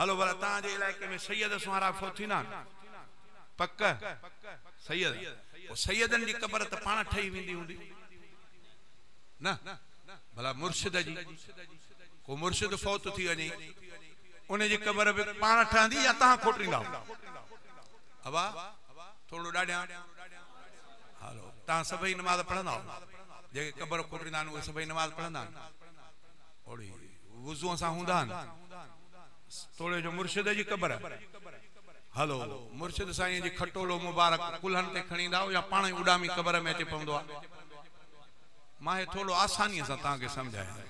هلو ڀلا توهان جي علائقي ۾ سيد سونهارا فوت ٿيندا آهن پڪ سيد پوء سيدن جي قبر ته پاڻ ٺهي ويندي هوندي نه ڀلا مرشد جي ڪو مرشد فوت ٿي وڃي ان جي قبر به پاڻ ٺهندي يا توهان کوٽيندا ابا ٿورڙو ڏاڍيان هلو توهان سڀئي نماز پڙهندا جيڪي قبر کوٽيندا آهن اهي سڀئي نماز پڙهندا آهن اوڙي وضوء سان هوندا آهن توڙي جو مرشد جي قبر هلو مرشد سائين جي کٽولو مبارڪ ڪلهن تي کڻي ايندا آهيو يا پاڻ ئي اڏامي قبر ۾ اچي پوندو آهي مان هي ٿورو آسانيء سان توهان کي سمجهايان ٿو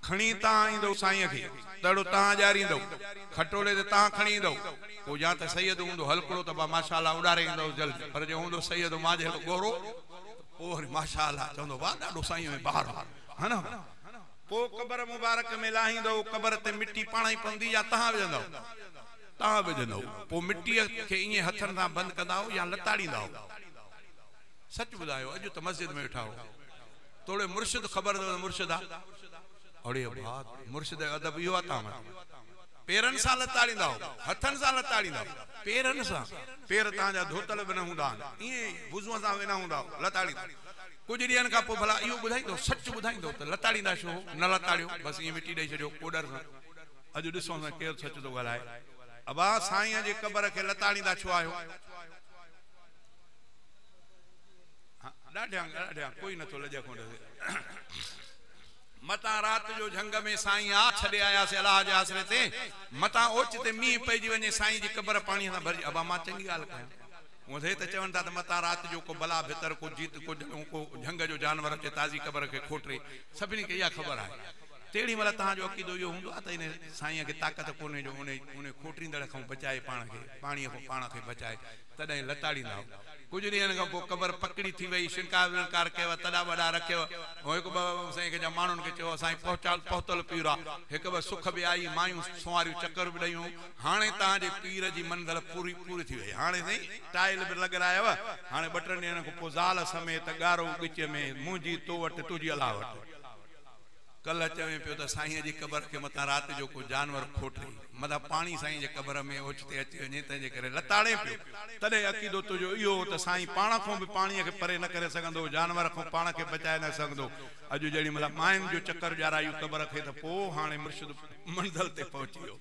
کڻي تان ايندو سائين کي تڙو تان ڄاريندو کٽولي تي تان کڻي ايندو پوء يا ته سيد هوندو هلڪڙو ته ماشاء الله اڏاري ايندوس جلدي پر جي هوندو سيد مان جهڙو ڳورو ته پوء وري ماشاء الله چوندو واهه ڏاڏو سائين ۾ بهار هو ها نه پوء قبر مبارڪ ۾ لاهيندؤ، قبر تي مٽي پاڻ ئي پوندي يا تهان وجهندؤ؟ تهان وجهندؤ، پوء مٽيء کي ائين هٿن سان بند ڪنداؤ يا لتاڙينداؤ؟ سچ ٻڌايو، اڄ ته مسجد ۾ ويٺا هئو، توڙي مرشد خبر اٿو ته مرشد آ؟ اڙي ڀاء، مرشد جو ادب اهو آ تهان وٽ؟ پيرن سان لتاڙينداؤ، هٿن سان لتاڙينداؤ؟ پيرن سان، پير تهان جا ڌوتل به نه هوندا آهن، ائين ئي وضوء سان وينا هونداؤ، لتاڙينداؤ. ڪجهه ڏينهن کان پوء ڀلا اهو ٻڌائيندو، سچ ٻڌائيندو ته لتاڙيندا ڇو هو؟ نه لتاڙيو، بس ائين مٽي ڏئي ڇڏيو ڪوڏر سان. اڄ ڏسون ته ڪير سچ ٿو ڳالهائي. ابا، سائينء جي قبر کي لتاڙيندا ڇو آهيو؟ ڏاڍيان، ڏاڍيان، ڪوئي نه ٿو لڄ کونڊ ٿئي. متان رات جو جهنگ ۾ سائين آ ڇڏي آياسي الله جي آسري تي. متان اوچتي مينهن پئجي وڃي سائينء جي قبر پاڻيء سان ڀرجي. ابا، مان چڱي ڳالهه ڪيان. هونء سي ته چون ٿا ته متان رات جو ڪو بلا ڀتر، ڪو جيت، ڪو جهڙون، ڪو جهنگ جو جانور اچي تازي قبر کي کوٽري. سڀني کي اها خبر آهي. تهڙي مهل توهان جو عقيدو اهو هوندو آهي ته انهي سائينء کي طاقت ڪونهي جو انهي انهي کوٽريندڙ کان بچائي پاڻ کي، پاڻيء کان پاڻ کي بچائي، تڏهن لتاڙيندائو. ڪجهه ڏينهن کان پوء قبر پڪڙي ٿي ويئي، شڻڪار وڻڪار ڪيو، تڏا وڏا رکيو. هونء هڪ ٻه هونء سي کي جا ماڻهن کي چيو، سائين پهچال پهتل پيرا، هڪ ٻه سک به آئي، مايون سنواريون چڪر به ڏيون، هاڻي توهان جي پير جي منزل پوري پوري ٿي وئي. هاڻي سائين ٽائل به لڳرايو هاڻي ٻه ٽن ڏينهن کان پوء زال سميت ڳارو ڳچ ۾ منهنجي تو وٽ تنهنجي الله وٽ. ڪلهه چوين پيو ته سائينء جي قبر کي متان رات جو ڪو جانور کوٽي متان پاڻي سائينء جي قبر ۾ اوچتي اچي وڃي تنهن جي ڪري لتاڙين پيو تڏهن عقيدو تنهنجو اهو هو ته سائين پاڻ کان به پاڻيء کي پري نه ڪري سگهندو جانور کان پاڻ کي بچائي نه سگهندو اڄ جيڏي مهل ماين جو چڪر ڄارايو قبر کي ته پوء هاڻي مرشد منزل تي پهچي ويو.